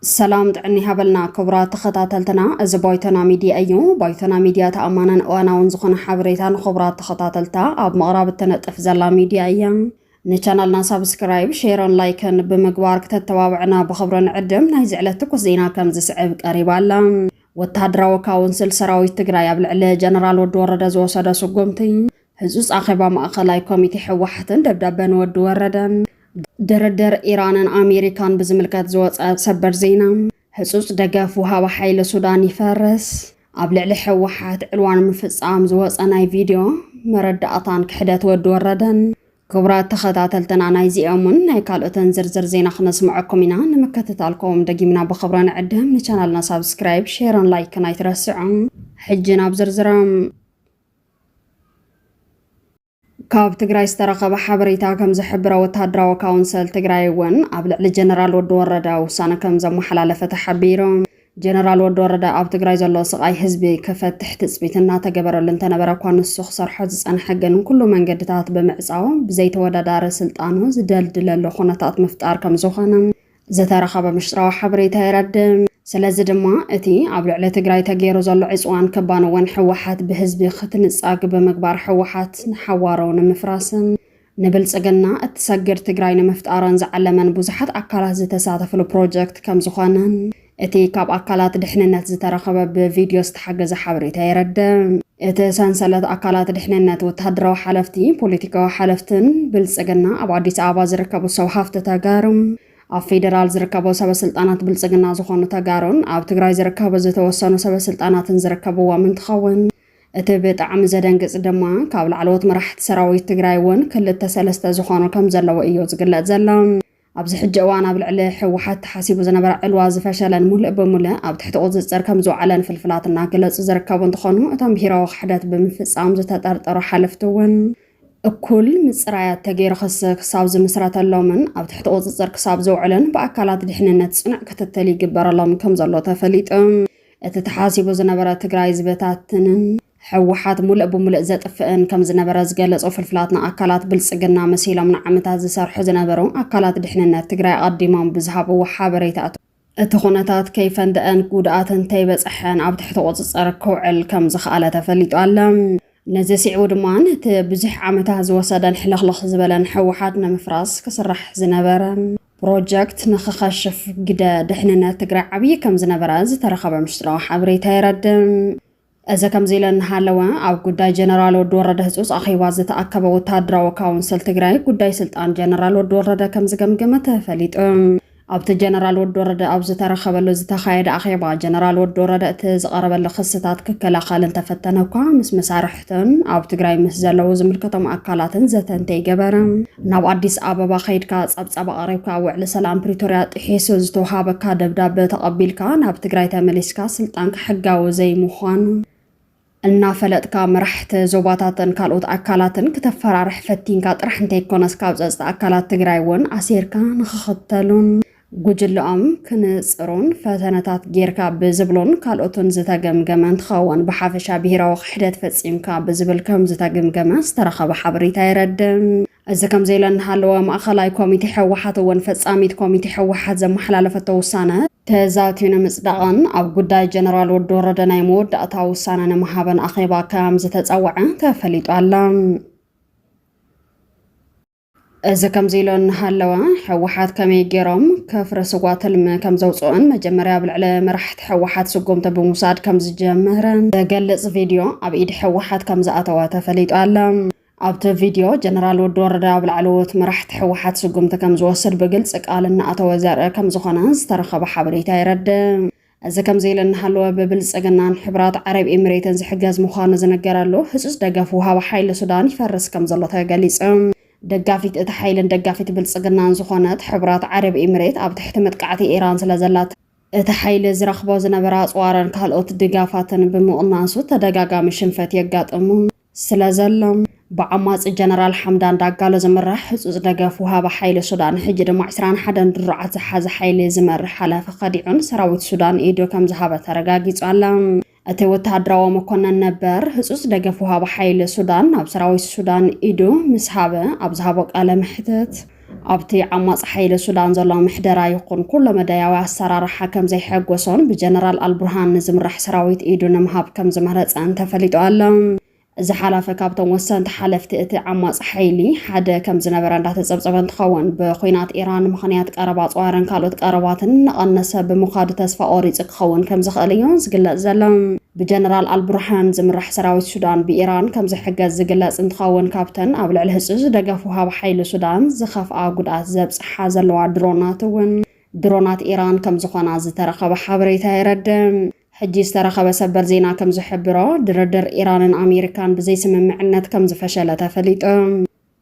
ሰላም ጥዕኒ ሃበልና ክቡራት ተኸታተልትና፣ እዚ ባይቶና ሚድያ እዩ። ባይቶና ሚድያ ተኣማንን እዋናውን ዝኾነ ሓበሬታ ንክቡራት ተኸታተልታ ኣብ ምቕራብ እተነጥፍ ዘላ ሚድያ እያ። ንቻናልና ሳብስክራይብ ሼርን ላይክን ብምግባር ክተተባብዕና ብኽብሪ ንዕድም። ናይዚ ዕለት ትኩስ ዜና ከም ዝስዕብ ቀሪባ ኣላ። ወተሃደራዊ ካውንስል ሰራዊት ትግራይ ኣብ ልዕሊ ጀነራል ወዲ ወረደ ዝወሰደ ስጉምቲ ህፁፅ ኣኼባ ማእኸላይ ኮሚቴ ሕወሓትን ደብዳበ ንወዲ ወረደን ድርድር ኢራንን ኣሜሪካን ብዝምልከት ዝወፀ ሰበር ዜና ህጹጽ ደገፍ ወሃቢ ሓይሊ ሱዳን ይፈርስ፣ ኣብ ልዕሊ ህወሓት ዕልዋ ንምፍጻም ዝወጸ ናይ ቪድዮ መረዳእታን ክሕደት ወዲ ወረደን። ክቡራት ተኸታተልትና ናይዚኦምን ናይ ካልኦትን ዝርዝር ዜና ክነስምዐኩም ኢና። ንምክትታልኩም ደጊምና ብኽብሪ ንዕድም። ንቻናልና ሳብስክራይብ፣ ሼርን ላይክን ኣይትረስዑ። ሕጂ ናብ ዝርዝሮም ካብ ትግራይ ዝተረኸበ ሓበሬታ ከም ዝሕብሮ ወተሃደራዊ ካውንሰል ትግራይ እውን ኣብ ልዕሊ ጀነራል ወዲ ወረደ ውሳነ ከም ዘመሓላለፈ ተሓቢሩ። ጀነራል ወዲ ወረደ ኣብ ትግራይ ዘሎ ስቓይ ህዝቢ ክፈትሕ ትፅቢት እናተገበረሉ እንተነበረ እኳ ንሱ ክሰርሖ ዝፀንሐ ግን ኩሉ መንገድታት ብምዕፃው ብዘይተወዳዳሪ ስልጣኑ ዝደልድለሉ ኩነታት ምፍጣር ከም ዝኾነ ዝተረኸበ ምሽጥራዊ ሓበሬታ የረድእ። ስለዚ ድማ እቲ ኣብ ልዕሊ ትግራይ ተገይሩ ዘሎ ዕፅዋን ክባን እውን ህወሓት ብህዝቢ ክትንፃግ ብምግባር ህወሓት ንሓዋሩ ንምፍራስን ንብልፅግና እትሰግድ ትግራይ ንምፍጣርን ዝዓለመን ብዙሓት ኣካላት ዝተሳተፍሉ ፕሮጀክት ከምዝኾነን እቲ ካብ ኣካላት ድሕንነት ዝተረኸበ ብቪድዮ ዝተሓገዘ ሓበሬታ የረድእ። እቲ ሰንሰለት ኣካላት ድሕንነት፣ ወተሃደራዊ ሓለፍቲ፣ ፖለቲካዊ ሓለፍትን ብልጽግና ኣብ ኣዲስ ኣበባ ዝርከቡ ሰብ ሃፍቲ ተጋሩ፣ ኣብ ፌደራል ዝርከቡ ሰበስልጣናት ብልጽግና ዝኾኑ ተጋሩን ኣብ ትግራይ ዝርከቡ ዝተወሰኑ ሰበስልጣናትን ዝርከብዎም እንትኸውን እቲ ብጣዕሚ ዘደንግጽ ድማ ካብ ላዕለዎት መራሕቲ ሰራዊት ትግራይ እውን ክልተ ሰለስተ ዝኾኑ ከምዘለዉ እዩ ዝግለጽ ዘሎ። ኣብዚ ሕጂ እዋን ኣብ ልዕሊ ህወሓት ተሓሲቡ ዝነበረ ዕልዋ ዝፈሸለን ሙሉእ ብሙሉእ ኣብ ትሕቲ ቁፅፅር ከምዝወዓለን ፍልፍላት እናገለፁ ዝርከቡ እንትኾኑ እቶም ብሄራዊ ክሕደት ብምፍፃም ዝተጠርጠሩ ሓለፍቲ እውን እኩል ምፅራያት ተገይሩ ክሲ ክሳብ ዝምስረተሎምን ኣብ ትሕቲ ቁፅፅር ክሳብ ዝውዕልን ብኣካላት ድሕንነት ፅኑዕ ክትትል ይግበረሎም ከምዘሎ ተፈሊጡ እቲ ተሓሲቡ ዝነበረ ትግራይ ዝበታትንን ህወሓት ሙልእ ብሙልእ ዘጥፍእን ከምዝነበረ ዝገለፁ ፍልፍላት ንኣካላት ብልፅግና መሲሎም ንዓመታት ዝሰርሑ ዝነበሩ ኣካላት ድሕንነት ትግራይ ኣቐዲሞም ብዝሃብዎ ሓበሬታ እቲ ኩነታት ከይፈንደኣን ጉድኣት እንተይበፀሐን ኣብ ትሕቲ ቁፅፅር ክውዕል ከምዝኸኣለ ተፈሊጡ ኣለ። ነዚ ስዒቡ ድማ ነቲ ብዙሕ ዓመታት ዝወሰደን ሕልኽልኽ ዝበለን ህወሓት ንምፍራስ ክስራሕ ዝነበረ ፕሮጀክት ንክኸሽፍ ግደ ድሕንነት ትግራይ ዓብዪ ከምዝነበረ ዝተረኸበ ምስጢራዊ ሓበሬታ የረድእ። እዚ ከምዚ ኢለ እናሃለወ ኣብ ጉዳይ ጀነራል ወዲ ወረደ ህፁፅ ኣኼባ ዝተኣከበ ወታደራዊ ካውንስል ትግራይ ጉዳይ ስልጣን ጀነራል ወዲ ወረደ ከም ዝገምግም ተፈሊጡ። ኣብቲ ጀነራል ወዲ ወረደ ኣብ ዝተረኸበሉ ዝተኻየደ ኣኼባ ጀነራል ወዲ ወረደ እቲ ዝቐረበሉ ክስታት ክከላኸል እንተፈተነ እኳ ምስ መሳርሕቱን ኣብ ትግራይ ምስ ዘለዉ ዝምልከቶም ኣካላትን ዘተ እንተይገበረ ናብ ኣዲስ ኣበባ ከይድካ ጸብጻብ ኣቕሪብካ ውዕሊ ሰላም ፕሪቶርያ ጥሒሱ ዝተውሃበካ ደብዳበ ተቐቢልካ ናብ ትግራይ ተመሊስካ ስልጣንካ ሕጋዊ ዘይምዃኑ እናፈለጥካ መራሕቲ ዞባታትን ካልኦት ኣካላትን ክተፈራርሕ ፈቲንካ ጥራሕ እንተይኮነስ ካብ ጸጽታ ኣካላት ትግራይ እውን ኣሲርካ ንክኽተሉን ጉጅለኦም ክንጽሩን ፈተነታት ጌርካ ብዝብሉን ካልኦትን ዝተገምገመ እንትኸውን ብሓፈሻ ብሄራዊ ክሕደት ፈጺምካ ብዝብል ከምዝተገምገመ ዝተረኸበ ሓበሬታ የረድእ። እዚ ከምዚ ኢለ እናሃለወ ማእኸላይ ኮሚቴ ህወሓት እውን ፈጻሚት ኮሚቴ ህወሓት ዘመሓላለፈቶ ውሳነ ተዛትዩ ንምጽዳቕን ኣብ ጉዳይ ጀነራል ወዲ ወረደ ናይ መወዳእታ ውሳነ ንምሃብን ኣኼባ ከምዝተጸወዐ ተፈሊጡ ኣሎ። እዚ ከምዚ ኢሎ እናሃለወ ሕወሓት ከመይ ገይሮም ከፍረስዋ ትልሚ ከም ዘውፅኦን መጀመርያ ኣብ ልዕሊ መራሕቲ ሕወሓት ስጉምቲ ብምውሳድ ከም ዝጀመረ ዘገልፅ ቪድዮ ኣብ ኢድ ሕወሓት ከም ዝኣተወ ተፈሊጡ ኣሎ። ኣብቲ ቪድዮ ጀነራል ወዲ ወረዳ ኣብ ላዕለዎት መራሕቲ ሕወሓት ስጉምቲ ከም ዝወስድ ብግልፂ ቃል እናኣተወ ዘርኢ ከም ዝኾነ ዝተረኸበ ሓበሬታ የረድእ። እዚ ከምዚ ኢሉ እናሃለወ ብብልፅግናን ሕቡራት ዓረብ ኤሚሬትን ዝሕገዝ ምዃኑ ዝንገረሉ ህፁፅ ደገፍ ውሃቢ ሓይሊ ሱዳን ይፈርስ ከም ዘሎ ተገሊፁ። ደጋፊት እቲ ሓይልን ደጋፊት ብልፅግናን ዝኾነት ሕቡራት ዓረብ ኤሚሬት ኣብ ትሕቲ መጥቃዕቲ ኢራን ስለ ዘላት፣ እቲ ሓይሊ ዝረኽቦ ዝነበረ ኣፅዋርን ካልኦት ድጋፋትን ብምቕናሱ ተደጋጋሚ ሽንፈት የጋጥሙ። ስለ ዘሎ፣ ብዓማጺ ጀነራል ሓምዳን ዳጋሎ ዝምራሕ ህጹጽ ደገፍ ወሃቢ ሓይሊ ሱዳን፣ ሕጂ ድማ ዕስራን ሓደን ድሩዓት ዝሓዘ ሓይሊ ዝመርሕ ሓላፊ ከዲዑን ሰራዊት ሱዳን ኢዱ ከም ዝሃበ ተረጋጊጹ ኣሎ። እቲ ወተሃደራዊ መኮነን ነበር፣ ህጹጽ ደገፍ ወሃቢ ሓይሊ ሱዳን ናብ ሰራዊት ሱዳን ኢዱ ምስ ሃበ ኣብ ዝሃቦ ቃለ መሕትት፣ ኣብቲ ዓማጺ ሓይሊ ሱዳን ዘሎ ምሕደራ ይኹን ኩሎ መዳያዊ ኣሰራርሓ ከም ዘይሐጎሶን ብጀነራል ኣልቡርሃን ንዝምራሕ ሰራዊት ኢዱ ንምሃብ ከም ዝመረጸን ተፈሊጡ ኣሎ። እዚ ሓላፊ ካብቶም ወሰንቲ ሓለፍቲ እቲ ዓማጺ ሓይሊ ሓደ ከም ዝነበረ እንዳተጸብጸበ እንትኸውን ብኹናት ኢራን ምኽንያት ቀረብ ኣጽዋርን ካልኦት ቀረባትን እናቐነሰ ብምኻዱ ተስፋ ቆሪጹ ክኸውን ከም ዝኽእል እዩ ዝግለጽ ዘሎ። ብጀነራል ኣልቡርሃን ዝምራሕ ሰራዊት ሱዳን ብኢራን ከምዝሕገዝ ዝግለፅ እንትኸውን ካብተን ኣብ ልዕሊ ህፁፅ ደገፍ ወሃቢ ሓይሊ ሱዳን ዝኸፍኣ ጉድኣት ዘብፅሓ ዘለዋ ድሮናት እውን ድሮናት ኢራን ከምዝኾና ዝተረኸበ ሓበሬታ የረድእ። ሕጂ ዝተረኸበ ሰበር ዜና ከምዝሕብሮ ድርድር ኢራንን ኣሜሪካን ብዘይስምምዕነት ከምዝፈሸለ ተፈሊጡ።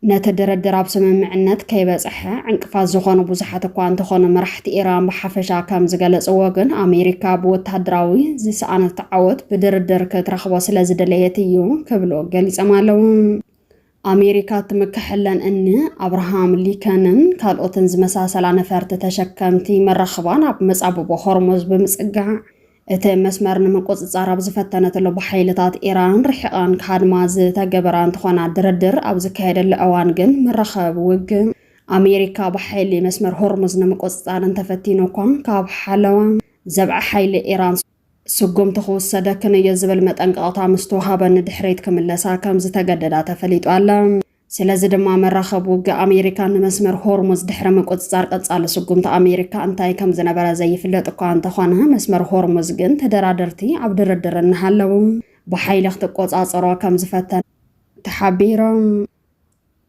ነቲ ድርድር ኣብ ስምምዕነት ከይበጽሐ ዕንቅፋት ዝኾኑ ብዙሓት እኳ እንተኾኑ መራሕቲ ኢራን ብሓፈሻ ከም ዝገለጽዎ ግን ኣሜሪካ ብወተሃደራዊ ዝሰኣነት ዓወት ብድርድር ክትረኽቦ ስለ ዝደለየት እዩ ክብሉ ገሊጾም ኣለዉ። ኣሜሪካ እትምከሐለን እኒ ኣብርሃም ሊከንን ካልኦትን ዝመሳሰላ ነፈርቲ ተሸከምቲ መራኽባን ኣብ መጻብቦ ሆርሙዝ ብምጽጋዕ እቲ መስመር ንምቁፅፃር ኣብ ዝፈተነትሉ ብሓይልታት ኢራን ርሒቓን ክሃድማ ዝተገበራ እንትኾና ድርድር ኣብ ዝካየደሉ እዋን ግን መራኸቢ ውግእ ኣሜሪካ ብሓይሊ መስመር ሆርሙዝ ንምቁፅፃር እንተፈቲኑ እኳ ካብ ሓለዋ ዘብዐ ሓይሊ ኢራን ስጉምቲ ክውሰደክን እዩ ዝብል መጠንቀቕታ ምስተውሃበ ንድሕሪት ክምለሳ ከምዝተገደዳ ተፈሊጡ ኣሎ። ስለዚ ድማ መራኸቢ ውግእ ኣሜሪካ ንመስመር ሆርሙዝ ድሕሪ ምቁጽጻር ቀጻሊ ስጉምቲ ኣሜሪካ እንታይ ከም ዝነበረ ዘይፍለጥ እኳ እንተኾነ መስመር ሆርሙዝ ግን ተደራደርቲ ኣብ ድርድር እናሃለዉ ብሓይሊ ክትቆጻጸሮ ከም ዝፈተነ ተሓቢሮም።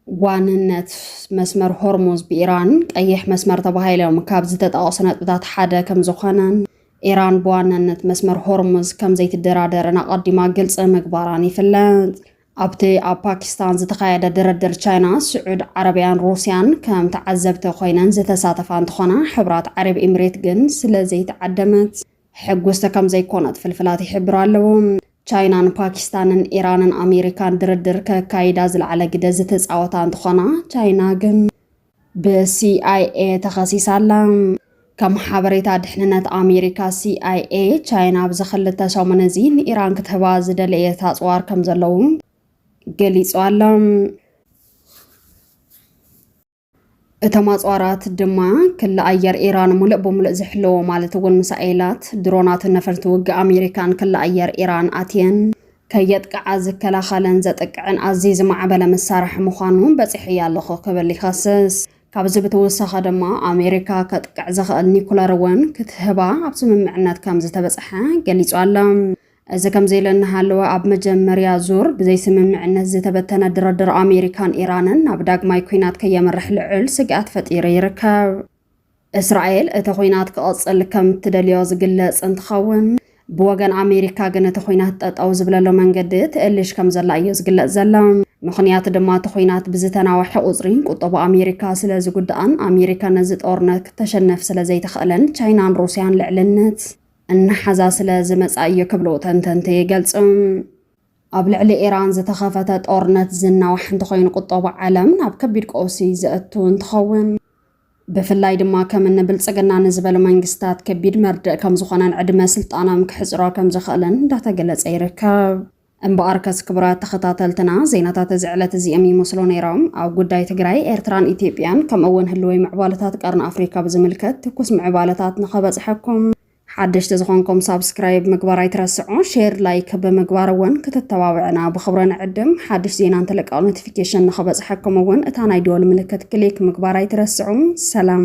ዋንነት መስመር ሆርሙዝ ብኢራን ቀይሕ መስመር ተባሂሎም ካብ ዝተጠቐሱ ነጥብታት ሓደ ከም ዝኾነን ኢራን ብዋናነት መስመር ሆርሙዝ ከም ዘይትደራደርን ኣቐዲማ ግልጺ ምግባራን ይፍለጥ። ኣብቲ ኣብ ፓኪስታን ዝተኻየደ ድርድር ቻይና፣ ስዑድ ዓረብያን ሩስያን ከም ተዓዘብቲ ኮይነን ዝተሳተፋ እንትኾና፣ ሕብራት ዓረብ ኢምሬት ግን ስለዘይተዓደመት ሕጉስቲ ከምዘይኮነት ፍልፍላት ይሕብሩ ኣለዉ። ቻይናን ፓኪስታንን ኢራንን ኣሜሪካን ድርድር ከካይዳ ዝለዓለ ግደ ዝተፃወታ እንትኾና፣ ቻይና ግን፣ ብሲኣይኤ ተኸሲሳ ኣላ። ከም ሓበሬታ ድሕንነት ኣሜሪካ ሲኣይኤ፣ ቻይና ኣብዚ ክልተ ሰሙን እዚ ንኢራን ክትህባ ዝደለየት ኣጽዋር ከም ዘለዉ ገሊጹ ኣሎ። እቶም ኣጽዋራት ድማ ክሊ ኣየር ኢራን ሙሉእ ብምሉእ ዝሕለዎ ማለት እውን ሚሳኤላት፣ ድሮናትን ነፈርቲ ውግእ ኣሜሪካን ክሊ ኣየር ኢራን ኣትየን። ከየጥቅዓ ዝከላኸልን ዘጥቅዕን ኣዝዩ ዝማዕበለ መሳርሒ ምዃኑ በጺሐያ ኣለኹ ክብል ይኸስስ። ካብዚ ብተወሳኺ ድማ ኣሜሪካ ከጥቅዕ ዝኽእል ኒኩለር እውን ክትህባ ኣብ ስምምዕነት ከምዝተበጽሐ ገሊጹ ኣሎ። እዚ ከምዚ ኢሉ እናሃለወ ኣብ መጀመርያ ዙር ብዘይስምምዕነት ዝተበተነ ድርድር ኣሜሪካን ኢራንን ናብ ዳግማይ ኲናት ከየምርሕ ልዑል ስግኣት ፈጢሩ ይርከብ። እስራኤል እቲ ኹናት ክቕፅል ከም እትደልዮ ዝግለፅ እንትኸውን፣ ብወገን ኣሜሪካ ግን እቲ ኹናት ጠጠው ዝብለሉ መንገዲ ትእልሽ ከም ዘላ እዩ ዝግለፅ ዘሎ። ምኽንያቱ ድማ እቲ ኹናት ብዝተናወሐ ቁፅሪ ቁጠባ ኣሜሪካ ስለ ዝጉዳእን ኣሜሪካ ነዚ ጦርነት ክተሸንፍ ስለ ዘይትኽእልን ቻይናን ሩስያን ልዕልነት እናሓዛ ስለ ዝመፃ እዩ ክብሉ ተንተንቲ ይገልፁ። ኣብ ልዕሊ ኢራን ዝተኸፈተ ጦርነት ዝናዋሕ እንተኾይኑ ቁጠባ ዓለም ናብ ከቢድ ቀውሲ ዘእቱ እንትኸውን ብፍላይ ድማ ከም እኒ ብልፅግና ንዝበሉ መንግስታት ከቢድ መርድእ ከም ዝኾነን ዕድመ ስልጣኖም ክሕፅሮ ከም ዝኽእልን እንዳተገለፀ ይርከብ። እምበኣር ከስ ክቡራት ተኸታተልትና ዜናታት እዚ ዕለት እዚኦም ይመስሉ ነይሮም። ኣብ ጉዳይ ትግራይ፣ ኤርትራን ኢትዮጵያን ከምኡ'ውን ህልወይ ምዕባለታት ቀርኒ ኣፍሪካ ብዝምልከት ትኩስ ምዕባለታት ንኸበጽሐኩም ሓደሽቲ ዝኾንኩም ሳብስክራይብ ምግባር ኣይትረስዑ፣ ሼር ላይክ ብምግባር እውን ክትተባብዕና ብኽብሪ ንዕድም። ሓድሽ ዜና እንትልቀቕ ኖቲፊኬሽን ንኽበፅሐኩም እውን እታ ናይ ደወል ምልክት ክሊክ ምግባር ኣይትረስዑ። ሰላም!